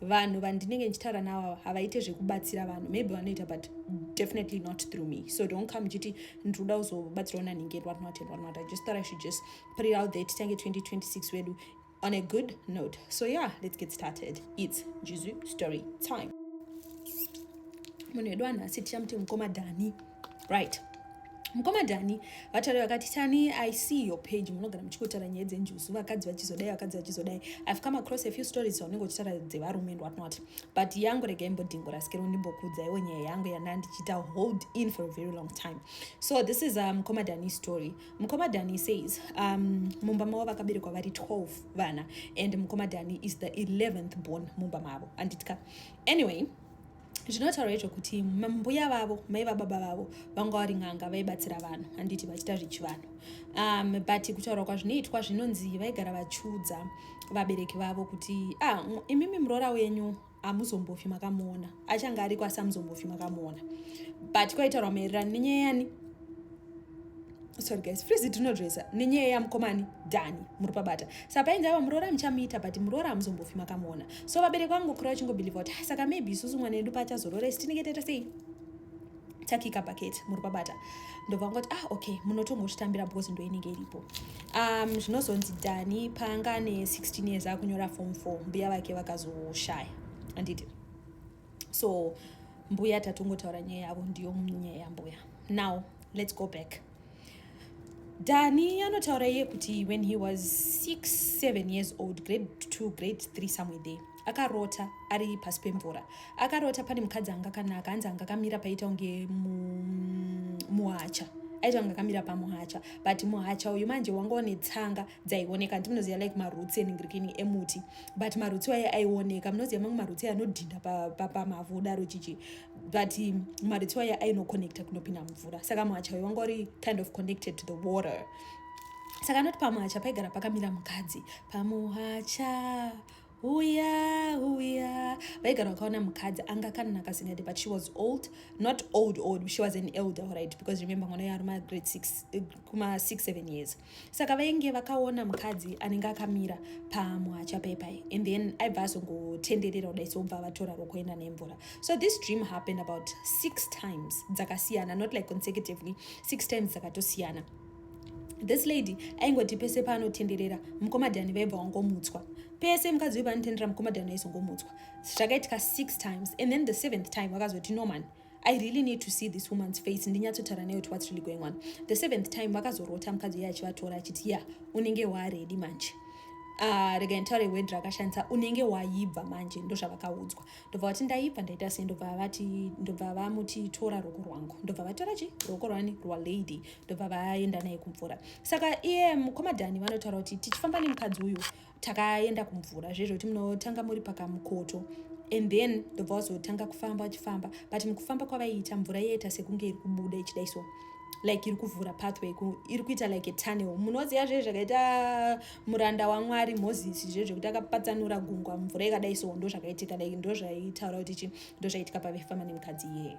vanhu vandinenge ndichitaura navo havaite zvekubatsira vanhu maybe vanoita but definitely not through me so don't come chiti ndinoda kuzobatsirawo nanhingi and whatnot and whatnot i just thought i should just put it out there titange 2026 wedu on a good note so yeah let's get started its jizu story time munhu wedu anhasi tichamuti mukoma dhani right mukoma dhani vataura vakati tani i see your page munogara muchikotara nyaya dzenjuzu vakadzi vachizodai vakadzi vachizodai i've come across a few stories dzaunenge uchitaura dzevarume and what not but yangu rega imbodhingo rasikero ndimbokuudzaiwo nyaya yangu yanda ndichiita hold in for a very long time so this is uh, mukoma um, dhani story mukoma dhani says um, mumba mavo vakaberekwa vari 12 vana and mukoma dhani is the 11th born mumba mavo anditka anyway zvinotaura izvo kuti mbuya vavo mai vababa vavo vanga vari n'anga vaibatsira vanhu handiti vachita zvechivanhu um, but kutaura kwazvinoitwa zvinonzi vaigara vachiudza vabereki vavo kuti ah, imimi muroora wenyu amuzombofi makamuona achange ariko asi amuzombofi makamuona but kwaitaurwa maererano nenyaya yani sorry guys frizi tinodresa nenyaya yamukomani dhani muri pabata sa painzi ava muroora muchamuita but muroora hamuzombofi makamuona so vabereki vangu kura vachingobhilivha kuti ah, saka maybe isusu mwana yedu paachazoroora isi tinenge taita sei takika paketi muri pabata ndobva ngoti ah okay munotongochitambira because ndo inenge iripo um zvinozonzi dhani paanga ne 16 years akunyora form 4 mbuya vake vakazoshaya anditi so mbuya tatongotaura nyaya yavo ndiyo nyaya yambuya now let's go back dani anotaura iye kuti when he was 6 7 years old grade 2 grade 3 somewhere there akarota ari pasi pemvura akarota pane mukadzi anga kanaka anzi anga kamira paita kunge muhacha aita kunge akamira pamuhacha but muhacha uyu manje wanga une tsanga dzaioneka handi munoziva like marutsi eningirikini emuti but marutsi waye aioneka munoziva mamwe marutsi anodhinda pamavhu pa, udaro chichi but um, marutsi waye ainoconnecta kunopinda mvura saka mwacha waye wanga uri kind of connected to the water saka anoti pamwacha paigara pakamira mukadzi pamuhacha huya huya vaigara vakaona mukadzi anga akanaka singadi but she was old not old old she was an elder right because remember mwana yaari ma grade six eh, kuma six seven years saka vainge vakaona mukadzi anenge akamira pamuhacha pepai and then aibva azongotenderera kudai sobva vatora rokuenda nemvura so this dream happened about six times dzakasiyana not like consecutively six times dzakatosiyana this lady aingoti pese paanotenderera mukomadhani vaibva wangomutswa pese mukadzi uyu paanotenderera mukomadhani aizongomutswa zvakaitika six times and then the seventh time vakazoti norman no I really need to see this woman's face ndinyatsotaura nayo kuti what's really going on the seventh time vakazorota mukadzi uye achivatora achiti ya unenge waaredi manje Ah, rega nditaure word rakashandisa unenge waibva manje ndozvavakaudzwa ndobva vati ndaibva ndaita sei ndobva vati ndobva vamuti tora ruoko rwangu ndobva vatora chi ruoko rwani rwalady ndobva vaenda naye kumvura saka iye mukomadhani vanotaura kuti tichifamba nemukadzi uyu takaenda kumvura zve zvekuti munotanga muri pakamukoto and then ndobva wazotanga kufamba wachifamba but mukufamba kwavaiita mvura yaita sekunge iri kubuda ichidai so like iri kuvhura pathway iri kuita like a tunnel munoziva zve zvakaita muranda wamwari moses zve zvekuti akapatsanura gungwa mvura ikadai so ndo zvakaitika like ndo zvaitaura kuti chi ndo zvaitika pavefamba nemukadzi iyeye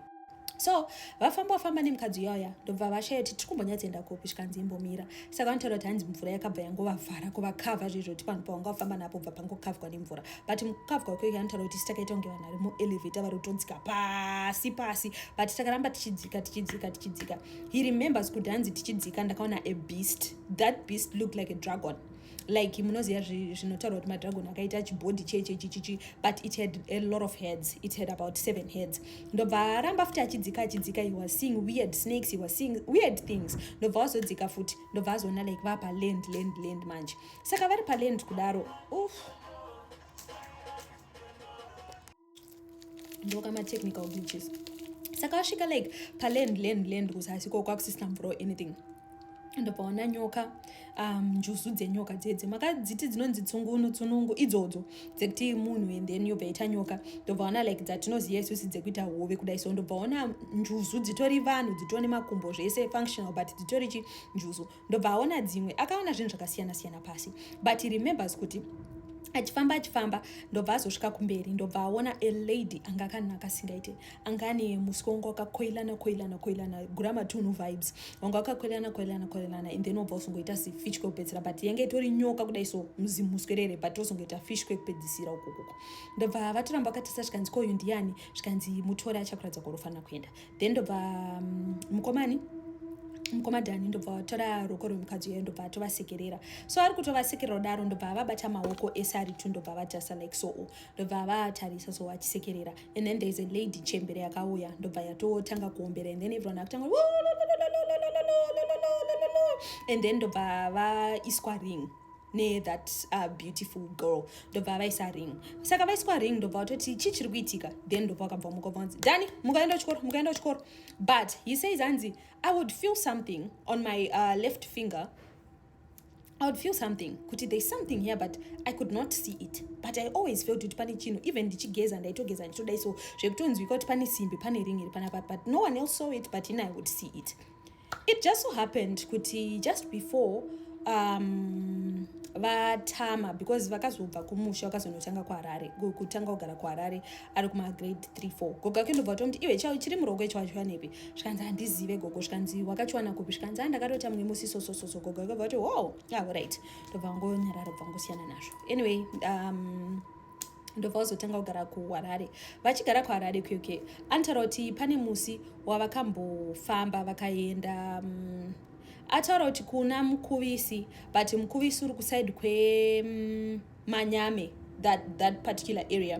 so vafamba wafamba nemukadzi uyauya ndobva vashaya kuti tiri kumbonyatsoenda kupi zvikanzi imbomira saka vanotaura kuti hanzi mvura yakabva yangovavhara kuvakavha zvezvo kuti panhu pawanga wafamba napo bva pangokavhwa nemvura but mukavhwa uko ika anotaura kuti titakaita kunge vanhu vari muelevator vari kutodzika pasi pasi but takaramba tichidzika tichidzika tichidzika he remembers kuti hanzi tichidzika ndakaona a beast that beast looked like a dragon like munoziva zvinotaurwa kuti madragon akaita chibhodhi chechechichichi but it had a lot of heads it had about seven heads ndobva aramba futi achidzika achidzika he was seeing weird snakes he was seeing weird things ndobva wazodzika futi ndobva azoona like vapa land land land manje saka vari paland kudaro uff ndokama technical glitches saka wasvika like paland land land kuzasi ko kwakusisina mvura or anything ndobva ona nyoka um, njuzu dzenyoka dzedze makadziti dzinonzi tsungunu tsunungu idzodzo dzekuti munhu and then yobva ita nyoka ndobva ona like dzatinoziva isusi dzekuita hove kudai so ndobva ona njuzu dzitori vanhu dzitori nemakumbo zvese functional but dzitori chi njuzu ndobva aona dzimwe akaona zvinhu zvakasiyana siyana pasi but he remembers kuti achifamba achifamba ndobva azosvika kumberi ndobva aona a lady anga akanaka asingaite anga ane musika wanga wakakoilana koilana koilana gura matunhu vibes wanga wakakoilana koilana koilana and then wobva uzongoita sifish kwekupedzisira but yanga itori nyoka kudai so muzimuswerere but wozongoita fish kwekupedzisira ukokoko ndobva vatoramba vakatisa zvikanzi ko uyu ndiani zvikanzi mutore achakuratidza kwarofanira kuenda then ndobva mm, mukomani um, mukomadhani ndobva vatora ruoko rwemukadzi uyo ndobva atovasekerera so ari kutovasekerera kudaro ndobva avabata maoko ese ari two ndobva avajasa like soo ndobva avatarisa so vachisekerera and then thereis a lady chembere yakauya ndobva yatotanga kuombera and then everyone akutanga and then ndobva vaiswa ring nethat uh, beautiful girl ndobva vaisa ring saka vaiswa ring ndobva vatoti chii chiri kuitika then ndobva vakabva muka vanzi dani mukaenda kuchikoro mukaenda kuchikoro but he says hanzi i would feel something on my uh, left finger I would feel something kuti there's something here but I could not see it but I always felt kuti pane chinhu even ndichigeza ndaitogeza ndichitodai so zvekutonzwika kuti pane simbi pane ring iri panapa but no one else saw it but in I would see it it just so happened kuti just before um, vatama because vakazobva kumusha vakazonotanga kuharare kutanga kugara kuharare ari kumagrade 3 4 gogo ake ndobva tomti iwe chao chiri muroko icho wachiwanepi zvikanzi handizive gogo zvikanzi wakachiwana kupi zvikanzi a ndakatota mumwe musi sosososo gogo ake bva kuti wow ah, right ndobva ngonyarara bva ngosiyana nazvo anyway um, ndobva vazotanga kugara kuharare vachigara kuharare kuk anotaura kuti pane musi wavakambofamba vakaenda um, ataura kuti kuna mukuvisi but mukuvisi uri kusaidi kwemanyame mm, um, that, that particular area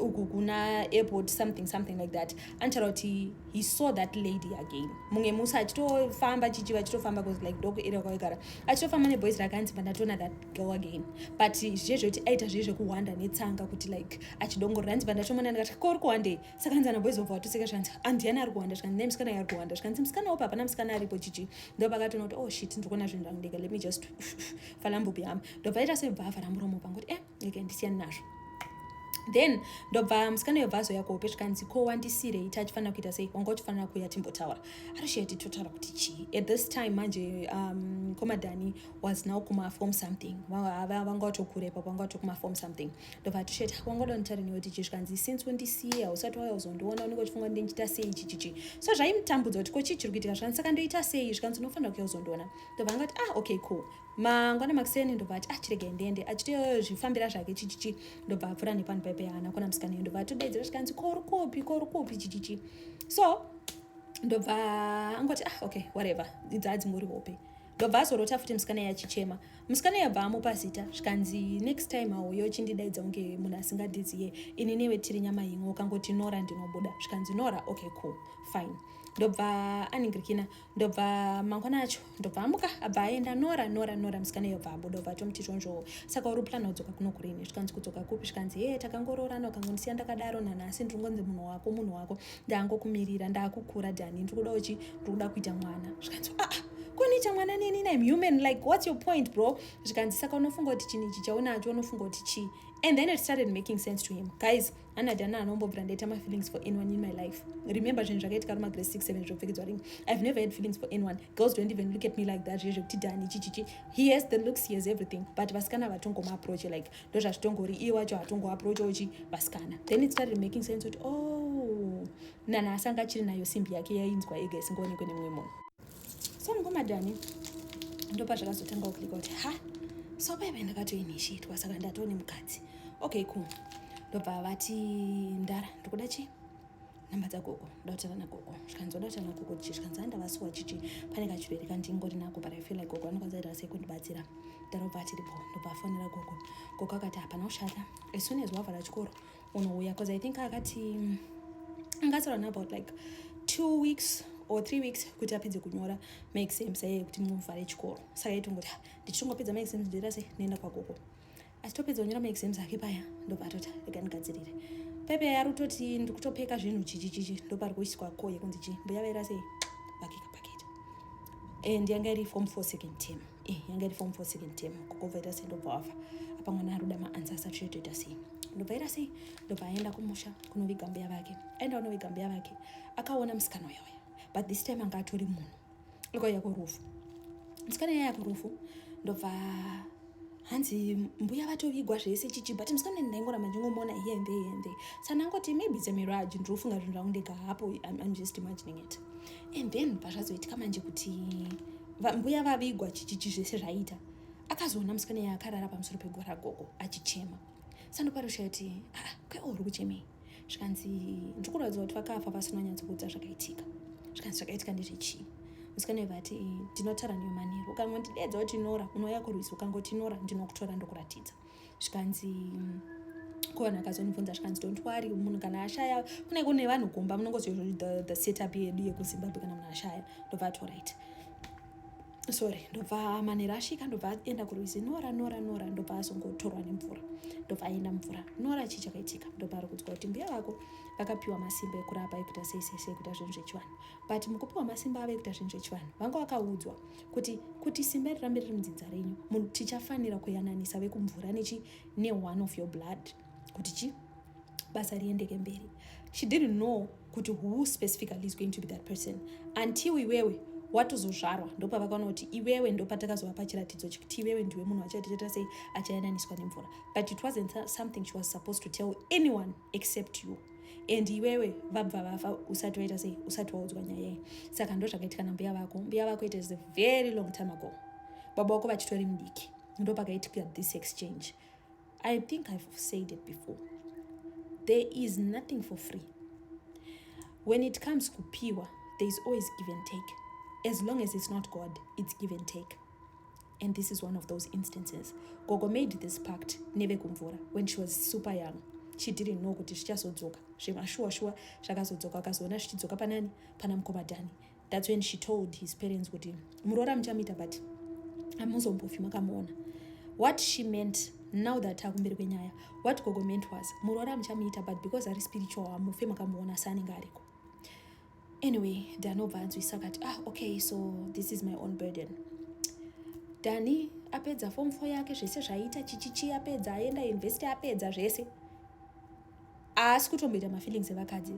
uku kuna airport something something like that anotaura kuti he saw that lady again mumwe musi achitofamba chichi vachitofamba bcause like doko area kwavekara achitofamba neboys rakanzi pandatoona that go again but zviye zvekuti aita zviye zvekuhwanda netsanga kuti like achidongorera hanzi pandatomona ndikati ko uri kuhwandei saka hanzi anabhoizobva watoseka zvanzi andiyani ari kuhwanda zvikanzi ne musikana ari kuhwanda zvikanzi musikana upa hapana musikana aripo chichi ndo pakatoona kuti oh shit ndiri kuona zvinhu zvangu ndega let me just fala mbupi yam ndobva aita sebva avhara muromo pangu kuti eh eke ndisiyani nazvo then ndobva musikana yobva azoya kuhope zvikanzi ko wandisirei tachifanira kuita sei wanga uchifanira kuya timbotaura arisheti totaura kuti chii at this time manje um, komadhani was now kuma form something vanga vatokura ipapo vanga vatokuma form something ndobva atisheti wangoda nditare newe kuti zvikanzi since undisiya usati wauya uzondiona unenge uchifunga kuti ndichita sei ichi chichi so zvaimutambudza kuti ko chii chiri kuitika zvikanzi saka ndoita sei zvikanzi unofanira kuya uzondiona ndobva anga kuti ah okay cool mangwana makuseni ndobva ati ah chiregai ndiende achitoyo zvifambira zvake chichichi ndobva apfura nepano paipe yaana kona musikana iyo ndobva atodaidzira zvikanzi ko uri kupi ko uri kupi chichichi so ndobva angoti ah okay whatever idzaa dzingori hope ndobva azorota futi musikana iye achichema musikana iye abva amupa zita zvikanzi next time hauye uchindidaidza kunge munhu asingadiziye ini newe tiri nyama imwe ukangoti nora ndinobuda zvikanzi nora okay cool fine ndobva aningirikina ndobva mangwana acho ndobva amuka abva aenda nora nora nora musikana iyo bva abuda obva atomuti chonzvoo saka uri plan kudzoka kuno kurini zvikanzi kudzoka kupi zvikanzi hee takangoroorana ukangondisiya ndakadaro nanhasi ndiri ngonzi munhu wako munhu wako ndangokumirira ndakukura dani ndiri kuda uchi ndiri kuda kuita mwana zvikanzi aa ah, koniita mwana neni na human like what's your point bro zvikanzi saka unofunga kuti chinhu ichi chaunacho unofunga kuti chii and then it started making sense to him guys ana dana anombobvira ndaita mafeelings for anyone in my life remember zvinhu zvakaitika ruma grace six seven zvopfekedzwa ring i've never had feelings for anyone girls don't even look at me like that zviye zvekuti dani chichichi he has the looks he has everything but vasikana vatongomaapproache like ndozvazvitongori iye wacho hatongo approach uchi vasikana then it started making sense kuti oh nana asanga achiri nayo simbi yake yainzwa ega isingaonekwe nemumwe munhu so mukomadhani ndopa zvakazotanga kuklika kuti ha so paive ndakatoinishitwa saka ndatone mukadzi okay cool ndobva vati ndara ndikuda chii nhamba dzagogo ndautana nagogo zvikanzi wadautana nagogo chi zvikanzi andavasuwa chichi pane kachirwere kandingori nako but i feel like gogo anokwanisa ita sei kundibatsira ndarobva atiripo ndobva afonera gogo gogo akati hapana kushata as soon as wavhara chikoro unouya bcause i think akati mm, angasara nabout like two weeks or three weeks kuti apedze kunyora maexams aye kuti muvhare chikoro saka itongoti ah, ndichitongopedza maexams ndoita sei ndienda kwagogo achitopedza kunyora maexams ake paya ndobva atoti rega ndigadzirire pepe yari kutoti ndiri kutopeka zvinhu chichichichi ndopari kuiswa ko yekunzi chii mbuya vaira sei pakeka paketa and yanga iri form four second term eh, yanga iri form four second term kokobva ita sei ndobva wafa apa mwana ari kuda maansa asati chetoita sei ndobva ita sei ndobva aenda kumusha kunoviga mbuya vake aenda kunoviga mbuya vake akaona musikana uyauya but this time anga atori munhu ikaiya kurufu musikana yaya kurufu ndobva hanzi mbuya vatovigwa zvese chichi but musikana ndaingora manje ngomona here and there and there sanangoti maybe it's a mirage ndiri kufunga zvinhu zvangu ndega hapo I'm, just imagining it and then pazvazoitika manje kuti mbuya vavigwa chichichi zvese zvaita akazoona musikana yaakarara pamusoro pegwara gogo achichema sandopa rushaya kuti aa ah, kwewo uri kuchemei zvikanzi ndiri kuratidza kuti vakafa vasina nyatsokuudza zvakaitika zvikanzi zvakaitika ndezvechii musikana iva ati ndinotara newe manheru ukangondidedza kuti nora unouya kurwizi ukangoti nora ndinokutora ndokuratidza zvikanzi kona akazonibvunza zvikanzi don't worry munhu kana ashaya kune kune vanhu gomba munongoziva the, the setup yedu yekuzimbabwe kana munhu ashaya ndobva atoright sorry ndobva manera asvika ndobva aenda kurwizi nora nora nora ndobva azongotorwa nemvura ndobva aenda mvura nora chii chakaitika ndobva ari kudzwa kuti mbuya vako vakapiwa masimba ekurapa ekuita sei sei sei kuita zvinhu zvechivanhu but mukupiwa masimba avo ekuita zvinhu zvechivanhu vanga vakaudzwa kuti kuti simba iri rambe riri mudzinza renyu tichafanira kuyananisa vekumvura nechi ne one of your blood kuti chi basa riendeke mberi she didn't know kuti who specifically is going to be that person until iwewe watozozvarwa ndopavakaona kuti iwewe ndopatakazova pachiratidzo chekuti iwewe ndiwe munhu achatiita sei achayananiswa nemvura but it wasn't something she was supposed to tell anyone except you and iwewe vabva vafa usati waita sei usati waudzwa nyaya iyi saka ndo zvakaitika nambuya vako mbuya vako it is a very long time ago baba vako vachitori mudiki ndopakaitika this exchange I think I've said it before. There is nothing for free. When it comes to pure, there is always give and take. As long as it's not God, it's give and take. And this is one of those instances. Gogo made this pact neve kumvura when she was super young. She didn't know kuti zvichazodzoka zvemashuwa shuwa zvakazodzoka akazoona zvichidzoka panani pana mukoma Dhani That's when she told his parents kuti muroora muchamuita but amuzombofi makamuona what she meant now that akumberi kwenyaya what gogo meant was muroora muchamuita but because ari spiritual hamufe makamuona saanenge ariko anyway danobva anzwisa kati ah okay so this is my own burden dani apedza form four yake zvese zvaiita chichichi apedza aenda university apedza zvese haasi kutomboita mafeelings evakadzi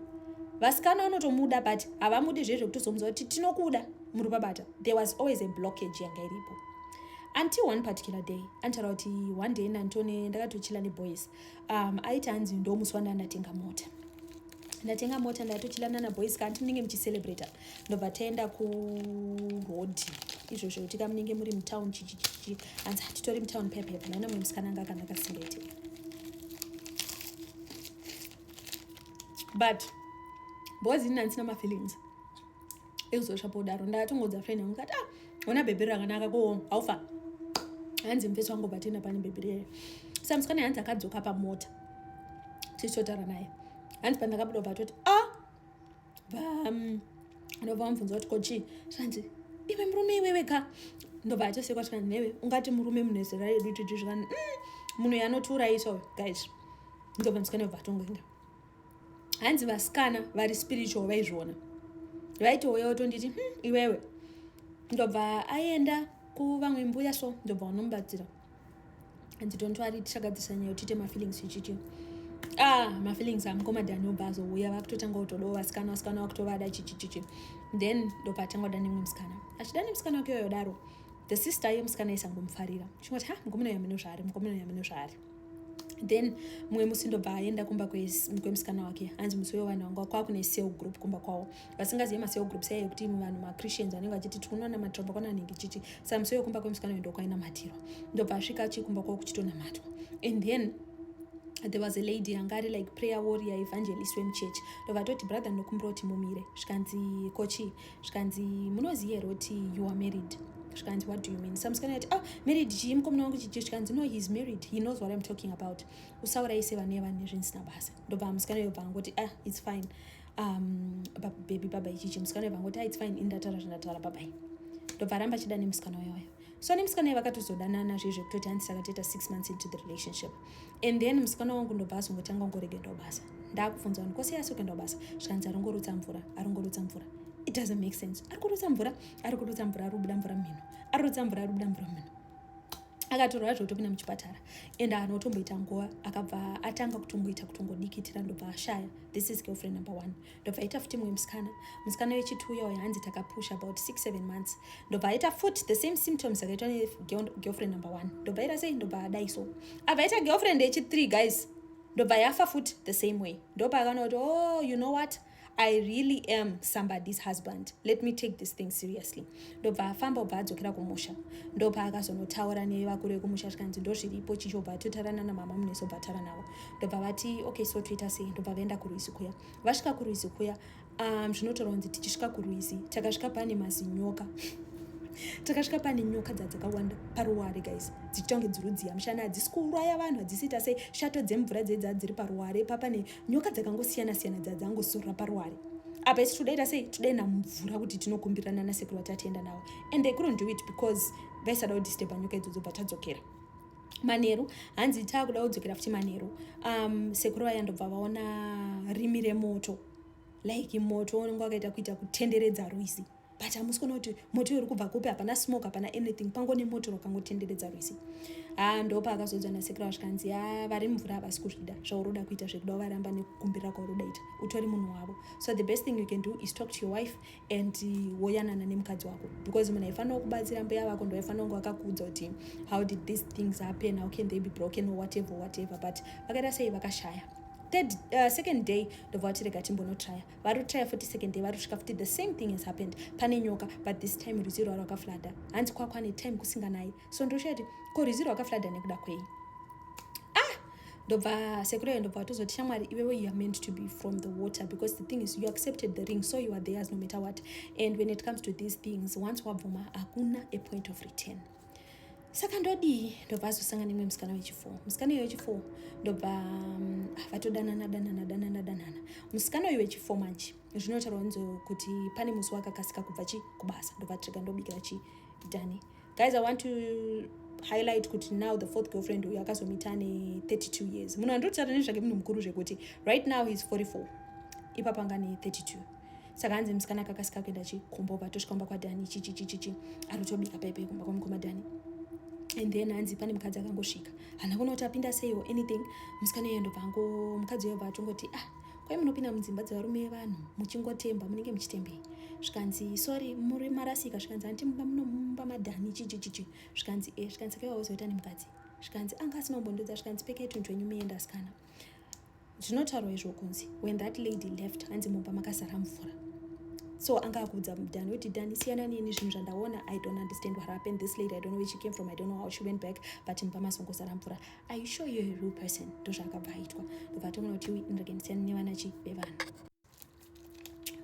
vasikana vanotomuda but havamudi zviye zvekutozomuza kuti tinokuda muri babata there was always a blockage yanga iripo until one particular day antaura kuti one day nantone ndakatochila neboys um, aiti hanzi ndomuswa ndandatenga mota ndatenga mota ndatochila nana boys kanti munenge muchicelebrata ndobva taenda kurodhi izvozvo kuti kamunenge muri mutown chichichichi hanzi hatitori mutown pepepe naina mwe musikana anga akanaka singete but boys ini handisina mafeelings ekuzosva podaro ndatongodza friend yangu kati ah ona bhebhi rakanaka ko haufa hanzi mfesi wangu batenda pane bhebhi rere sa musikana hanzi akadzoka pamota tichitotara naye hanzi pandakabuda batoti a ah! ndobva vamubvunza kuti ko chii zvanzi iwe murume iwewe ka ndobva atosekwa zvikanzi newe ungati murume munhu ezera redu titi zvikanzi mm, munhu yanotiurayisa uyo guys ndobva musikana yobva atongoenda hanzi vasikana vari spiritual vaizviona vaitouya otonditi hmm, iwewe ndobva aenda kuvamwe mbuya so ndobva vanomubatsira and don't worry tichagadzirisa nyaya tiite mafeelings chichichi ah mafeelings amukoma dani obva azouya vakutotanga kutodawo vasikana vasikana vakutovada chichichichi then ndopatanga kuda nemwe musikana achida nemusikana wake yoyo daro the sister yemusikana isangomufarira chingoti ha mukomana uyo amene zvaari mukomana uyo amene zvaari then mumwe musi ndobva aenda kumba kwemusikana wake hanzi musi uyo vanhu vanga kwakune sale group kumba kwavo vasingazive macell groups aye ekuti imwe vanhu machristians vanenge vachiti tikunoona matirwa pakwana anenge chichi samusoyo kumba kwemusikana uyo ndokwainamatirwa ndobva asvika achikumba kwavo kuchitonamatwa and then there was a lady yanga ari like prayer warrior evangelist wemuchechi ndovatoti brother ndokumbira kuti mumire zvikanzi kochii zvikanzi munoziva here kuti you are married zvikanzi what do you mean samusikana yati ah married chii mukomana wangu chichi zvikanzi no heis married he knows what im talking about usauraise vane vanhu nezvinisina basa ndobva musikana yobva angoti ah its fine um, baby baba ichichi musikana uyo vangoti its fine indataura zvandataura babai ndobva aramba achida nemusikana uyoyo so nemusikana uyo vakatozodanana zviye zvekutoti hanzi saka toita six months into the relationship and then musikana wangu ndobva azongotanga ungoregendawo basa ndaakubvunza vanhu kose asi ukuendawo basa zvikanzi aringorutsa mvura aringorutsa mvura it doesn't make sense ari kurutsa mvura ari kurutsa mvura ari kubuda mvura mumhino ari kurutsa mvura ari kubuda mvura mumhino akatorwa yacho kutopinda muchipatara and anotomboita nguva akabva atanga kutomboita kutongodikitira ndobva ashaya this is girlfriend number one ndobva aita futi mumwe musikana musikana wechituya uyo hanzi takapusha about six seven months ndobva aita futi the same symptoms akaitwa negirlfriend number one ndobva aita sei ndobva adai so abva aita girlfriend yechithree guys ndobva yafa futi the same way ndopaakana kuti oh you know what i really am somebody's husband let me take this thing seriously ndobva afamba obva adzokera kumusha ndopaakazonotaura nevakuru vekumusha zvikanzi ndozviripo chicho obva atotara nana mama muneso obva atara navo ndobva vati okay so toita sei ndobva vaenda kurwizi kuya vasvika kurwizi kuya um, zvinotorwa kunzi tichisvika kurwizi takasvika pane mazinyoka takasvika pane nyoka dza dzakawanda paruware guys dzichita kunge dzirudziya mushana hadzisi kuuraya vanhu hadzisiita sei shato dzemvura dzedza dziri paruware papane nyoka dzakangosiyana siyana dzadzangozorora paruware apa isi todaita sei todaina mvura kuti tinokumbirana nasekuru vatatienda navo and they couldn't do it because vaisada kudisturba nyoka idzodzo bva tadzokera manheru hanzi taakuda kudzokera futi manheru um, sekuru vaya ndobva vaona rimi remoto like moto unenge wakaita kuita kutenderedza rwizi but hamusi kuona kuti moto uri kubva kupi hapana smoke hapana anything pango nemoto rwakangotenderedza rwese haa ah, ndopa akazodzwa nasekura zvikanzi ya ah, vari mvura havasi kuzvida zvauroda kuita zvekuda varamba nekukumbirira kwauroda ita utori munhu wavo so the best thing you can do is talk to your wife and uh, woyanana nemukadzi wako because munhu aifanira kubatsira mbuya vako ndo aifanira kunge vakakuudza kuti how did these things happen how can they be broken or whatever whatever but vakaita sei vakashaya third uh, second day ndobva vatirega timbonotraya vari kutraya futi second day vari kusvika futi the same thing has happened pane nyoka but this time rwizi rwa rwakaflada hanzi kwakwane time kusinganayi so ndoshuya kuti ko rwizi rwakaflada nekuda kwei ah! ndobva sekurayo ndobva vatozoti shamwari iwewe you are meant to be from the water because the thing is you accepted the ring so you are theirs no matter what and when it comes to these things once wabvuma hakuna a point of return saka ndodii ndobva azosanga nemwe musikana wechifour musikana uyo wechifour ndobva mm, ah, vatodanana danana danana danana musikana uyo wechifour manje zvinotaurwa nzo kuti pane musi wakakasika kubva chi kubasa ndobva trega ndobikira chi dani guys i want to highlight kuti now the fourth girlfriend uyo akazomita ane 32 years munhu andotara nezvake munhu mukuru zvekuti right now heis 44 ipapanga ne 32 saka hanzi musikana akakasika kuenda chi kumbova tosvika kumba kwadhani chichichichichi arotobika paipai kumba kwamukoma dhani and then hanzi pane mukadzi akangosvika hana kuona kuti apinda sei or anything musikana iye ndobva ango mukadzi uyo bva atongoti ah kwai munopinda mudzimba dzevarume yevanhu muchingotemba munenge muchitembei zvikanzi sorry muri marasika zvikanzi hanti mumba munomumba madhani chichichichi zvikanzi e zvikanzi sakaiwaozoita nemukadzi zvikanzi anga asina kumbondodza zvikanzi pekei tunhu twenyu muenda asikana zvinotaurwa izvo kunzi when that lady left hanzi mumba makazara mvura so anga akuudza mudhani kuti dhani siyana neni zvinhu zvandaona i don't understand what happened this lady i don't know where she came from i don't know how she went back but mumba masongozara mvura are you sure you're a real person ndozvaakabva aitwa ndobva atomona kuti ui ndirege ndisiyana nevana chi vevanhu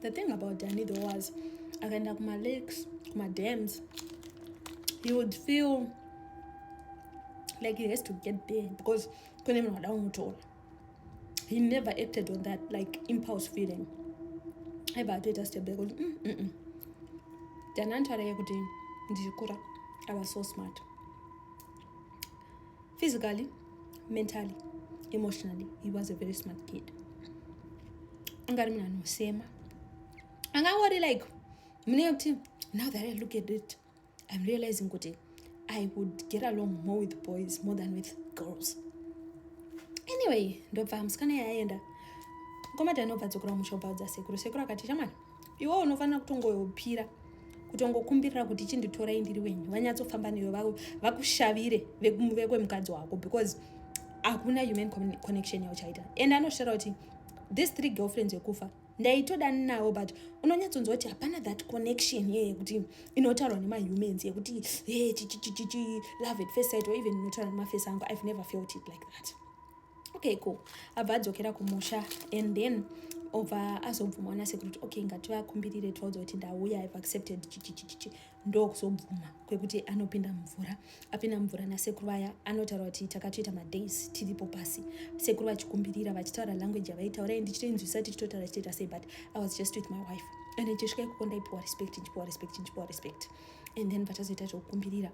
the thing about danny though was akaenda kumalakes kumadams he would feel like he has to get there because kune munhu wada kumutora he never acted on that like impulse feeling aiva atoita step back kuti mm, mm, mm. danantara yekuti ndichikura ava so smart physically mentally emotionally he was a very smart kid anga ari munhu anosema anga angori like munenge kuti now that i look at it i'm realizing kuti i would get along more with boys more than with girls anyway ndobva musikana yaenda mukomati anobva dzokora musha obva udza sekuru sekuru akati chamwana iwo unofanira kutongoyopira kutongokumbirira kuti chinditorai ndiri wenyu vanyatsofamba newe vakushavire vekwemukadzi wako because hakuna human connection yauchaita and anoshara kuti this three girlfriends yekufa ndaitoda nawo but unonyatsonzwa kuti hapana that connection ye yekuti inotaurwa nemahumans yekuti e chichichichichi love at first sight or even inotaurwa nemaface angu i've never felt it like that okay cool abva adzokera kumusha and then obva azobvuma ona sekuru kuti okay ngativakumbirire tivaudza kuti ndauya ive accepted chichichichichi ndokuzobvuma kwekuti anopinda mvura apinda mvura nasekuru vaya anotaura kuti takatoita madays tiripo pasi sekuru vachikumbirira vachitaura language yavaitaura i ndichitoinzwisa tichitotaura chitoita sei but i was just with my wife and ndichisvika ikoko ndaipiwa respect ndichipiwa respect ndichipiwa respect and then patazoita zvekukumbirira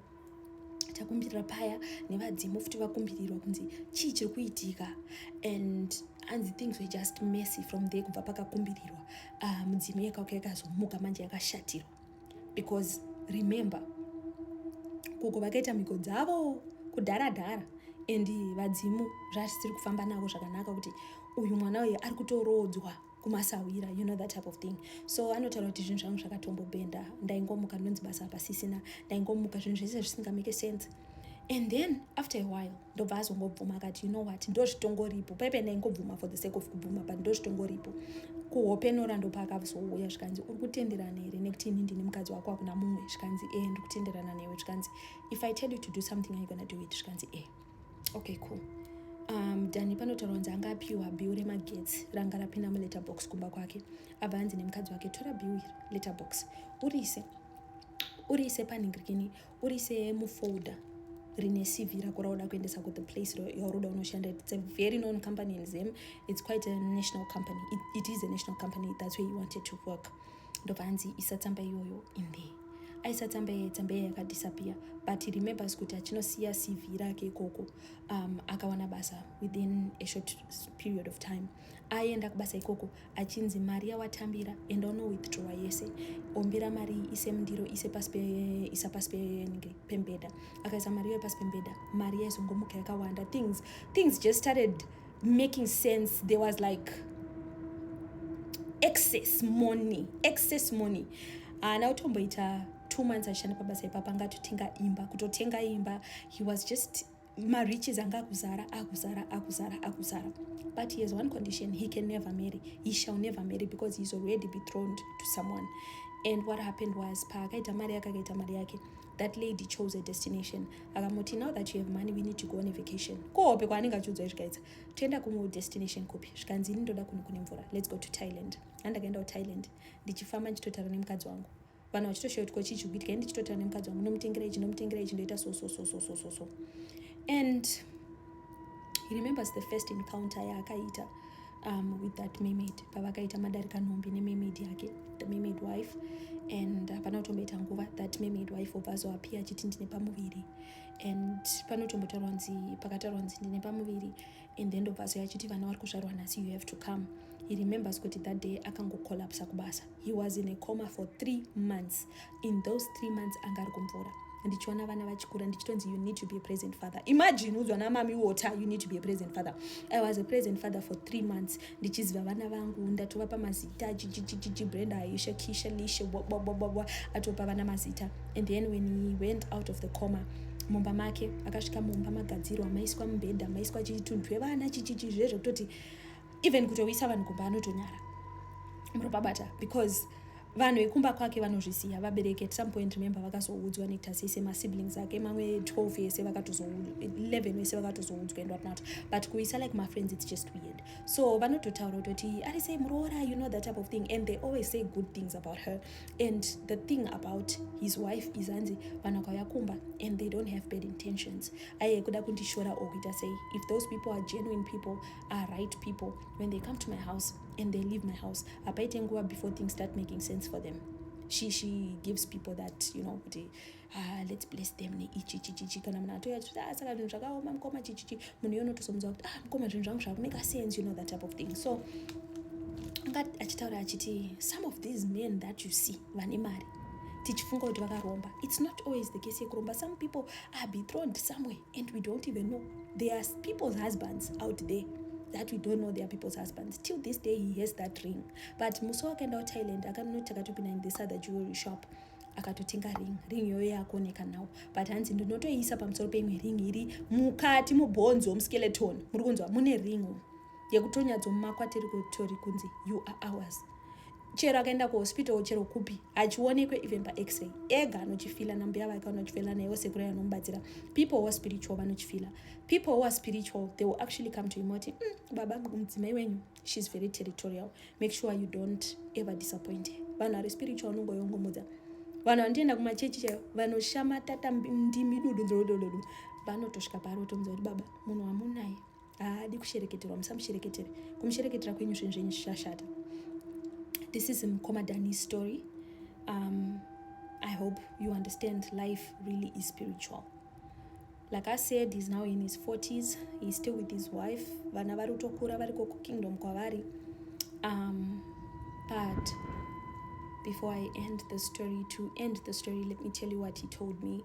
takumbirira paya nevadzimu futi vakumbirirwa kunzi chii chiri kuitika and hanzi things were just messy from there kubva pakakumbirirwa uh, mudzimu yakauka yakazomuka manje yakashatirwa because remember koko vakaita mhiko dzavo kudhara dhara and vadzimu zvasisiri kufamba navo zvakanaka kuti uyu mwana uyu ari kutoroodzwa kumasahwira you know that type of thing so anotaura kuti zvinhu zvangu zvakatombobhenda ndaingomuka ndonzi basa pasisina ndaingomuka zvinhu zvese zvisingamake sense and then after a while ndobva azongobvuma akati you know what ndozvitongoripo paipe ndaingobvuma for the sake of kubvuma but ndozvitongoripo kuhope nora ndopa akazouya zvikanzi uri kutenderana here nekuti ini ndini mukadzi wako hakuna mumwe zvikanzi e eh, ndiri kutenderana newe zvikanzi if i tell you to do something are you gonna do it zvikanzi e eh. okay cool um, dani panotaura kunzi anga apiwa bill remagetsi ranga rapinda muletterbox kumba kwake abva anzi nemukadzi wake tora bill iri letterbox urise urise panhingirikini urise mufolder rine cv rako rauda kuendesa ku the place yauroda unoshanda its a very known company in zim its quite a national company it, it is a national company that's where you wanted to work ndobva anzi isa tsamba iyoyo in there aisa tsamba iye tsamba iye yakadisappear but he remembers kuti achinosiya cv rake ikoko um, akawana basa within a short period of time aenda kubasa ikoko achinzi mari yawatambira enda unowithdrawa yese ombera mari ise mundiro ise pasi isa pasi penenge pembeda akaisa mari iyoyo pasi pembeda mari yaizongomuka yakawanda things things just started making sense there was like excess money excess money haana uh, kutomboita two months achishanda pabasa ipapa anga atotenga imba kutotenga imba he was just mariches anga akuzara akuzara akuzara akuzara but he has one condition he can never marry he shall never marry because he's already betrothed to someone and what happened was paakaita mari yake akaita mari yake that lady chose a destination akamuti now that you have money we need to go on a vacation kohope kwaanenge achiudzwa izvikaidza toenda kumwe destination kupi zvikanzi ini ndoda kunhu kune mvura let's go to thailand andakaenda kuthailand ndichifamba ndichitotaura nemukadzi wangu vanhu vachitoshoya kuti kochii chikuitika ini ndichitotaura nemukadzi wangu nomutengera ichi nomutengera ichi ndoita so so so so so so so and he remembers the first encounter yaakaita um, with that mermaid pavakaita madarika nhombi nemermaid yake the mermaid wife and uh, panotomboita nguva that mermaid wife obva azoapia achiti ndine pamuviri and panotombotaurwa nzi pakataurwa nzi ndine pamuviri and then ndobva azoya achiti vana vari kuzvarwa nhasi you have to come he remembers kuti that day akangocollapsa kubasa he was in a coma for three months in those three months anga ari kumvura ndichiona vana vachikura ndichitonzi you need to be a present father imagine udzwa namami water you need to be a present father i was a present father for three months ndichiziva vana vangu ndatovapa mazita chichichichichi brenda aisha kisha lishe bwabwabwabwa atopa vana mazita and then when he went out of the coma mumba make akasvika mumba magadzirwa maiswa mubhedha maiswa chitunhu twevana chichichi zvezvekutoti even kutouyisa vanhu kumba anotonyara muropabata because vanhu vekumba kwake vanozvisiya vabereki at some point remember vakazoudzwa netasi ese masiblings ake mamwe 12 yese vakatozo11 wese vakatozoudzwa and whatnot but kuisa like mafriends its just weird so vanototaura kutoti ari sei muroora you know that type of thing and they always say good things about her and the thing about his wife is anzi vanhu akauya kumba and they don't have bad intentions aye kuda kundishora or kuita sei if those people are genuine people are right people when they come to my house and they leave my house hapaite nguva before things start making sense for them she, she gives people that you know kuti ah, let's bless them neichi chichichi kana munhu atouya kuti ah, saka zvinhu zvakaoma mukoma chichichi munhu iye unotozomuziva kuti ah, mukoma zvinhu zvangu zvakumeka sense you know that type of thing so anga achitaura achiti some of these men that you see vane mari tichifunga kuti vakaromba it's not always the case yekuromba some people are betrothed somewhere and we don't even know there are people's husbands out there that we don't know their people's husbands till this day he has that ring but musi wakaenda kuthailand akanoti akatopinda in this other jewelry shop akatotenga ring ring iyoyo yakuoneka now but hanzi ndinotoiisa pamusoro peimwe ring iri mukati mubhonzo muskeleton muri kunzwa mune ring yekutonyatsomakwa tiri kutori kunzi you are ours chero akaenda kuhospital chero kupi hachionekwe even pax-ray ega anochifila nambuya vake vanochifila naivo sekuru anomubatsira people who are spiritual vanochifila people who are spiritual they will actually come to him oti mm, baba mudzimai wenyu she's very territorial make sure you don't ever disappoint her vanhu ari spiritual vanongoyongomudza vanhu vanotoenda kumachechi chaivo vanoshamatata ndimi dudu dzodododo vanotosvika paari otomudza kuti baba munhu wamunaye haadi kushereketerwa musamushereketere kumushereketera kwenyu zvinhu zvenyu zvichashata this is mukoma dani story um, i hope you understand life really is spiritual like i said he's now in his 40s he's still with his wife vana vari kutokura variko kukingdom kwavari um, but before i end the story to end the story let me tell you what he told me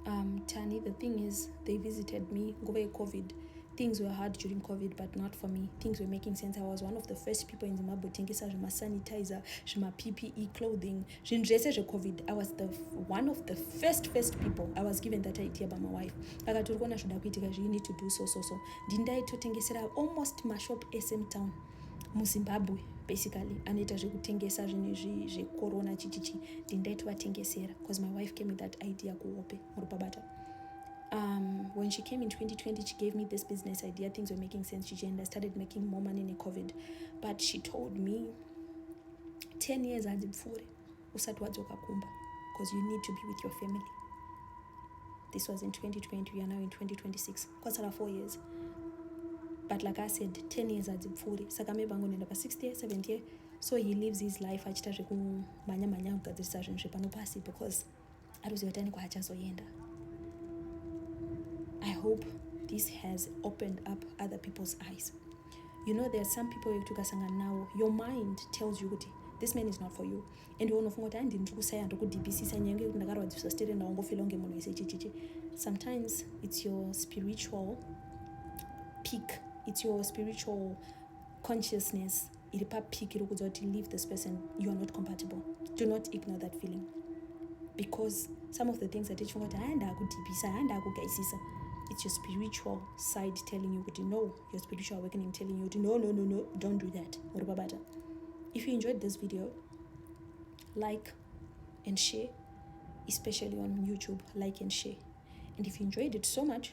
Um, Tani, the thing is, they visited me over COVID. Things were hard during COVID, but not for me. Things were making sense. I was one of the first people in Zimbabwe tengesa zvema sanitizer, zvema PPE clothing, zvinhu zvese zveCOVID. I was the one of the first first people. I was given that idea by my wife. Akatori kuona zvoda kuitika zvi, you need to do so so so. Ndindaitotengesera almost mashop SM town. muzimbabwe basically anoita zvekutengesa zvinhu izvi zvekorona chichichi ndindaiti vatengesera bcause my wife came with that idea kuhope muri pabata um, when she came in 2020 she gave me this business idea things were making sense chichi and i started making more money necovid but she told me 10 years hadzipfuure usati wadzoka kumba because you need to be with your family this was in 2020 we are now in 2026 kwatsara four years but like i said 10 years adzipfuuri saka maybe angonoenda pa 60 year 70 year so he lives his life achita zvekumhanya mhanya kugadzirisa zvinhu zvepano pasi because aruziva kuti ane kwaachazoenda i hope this has opened up other people's eyes you know there are some people yekuti ukasangana nawo your mind tells you kuti this man is not for you and iwe unofunga kuti andi ndiri kusaya ndiri kudibhisisa nyange yekuti ndakarwadziswa stere ndawo ngofela kunge munhu wese chichichi sometimes it's your spiritual peak it's your spiritual consciousness iri papiki iri kudza kuti leave this person you are not compatible do not ignore that feeling because some of the things that tichifunga kuti haya ndaakudhibhisa haya ndaakugaisisa it's your spiritual side telling you kuti no your spiritual awakening telling you kuti no no no no don't do that uri pabata if you enjoyed this video like and share especially on youtube like and share and if you enjoyed it so much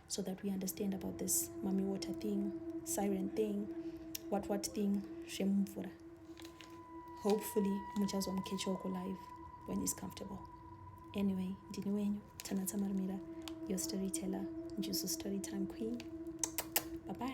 so that we understand about this mummy water thing siren thing what what thing zvemumvura hopefully muchazomukechoko live when he's comfortable anyway ndini wenyu tanatsa marumira your storyteller njuzu storytime queen bye bye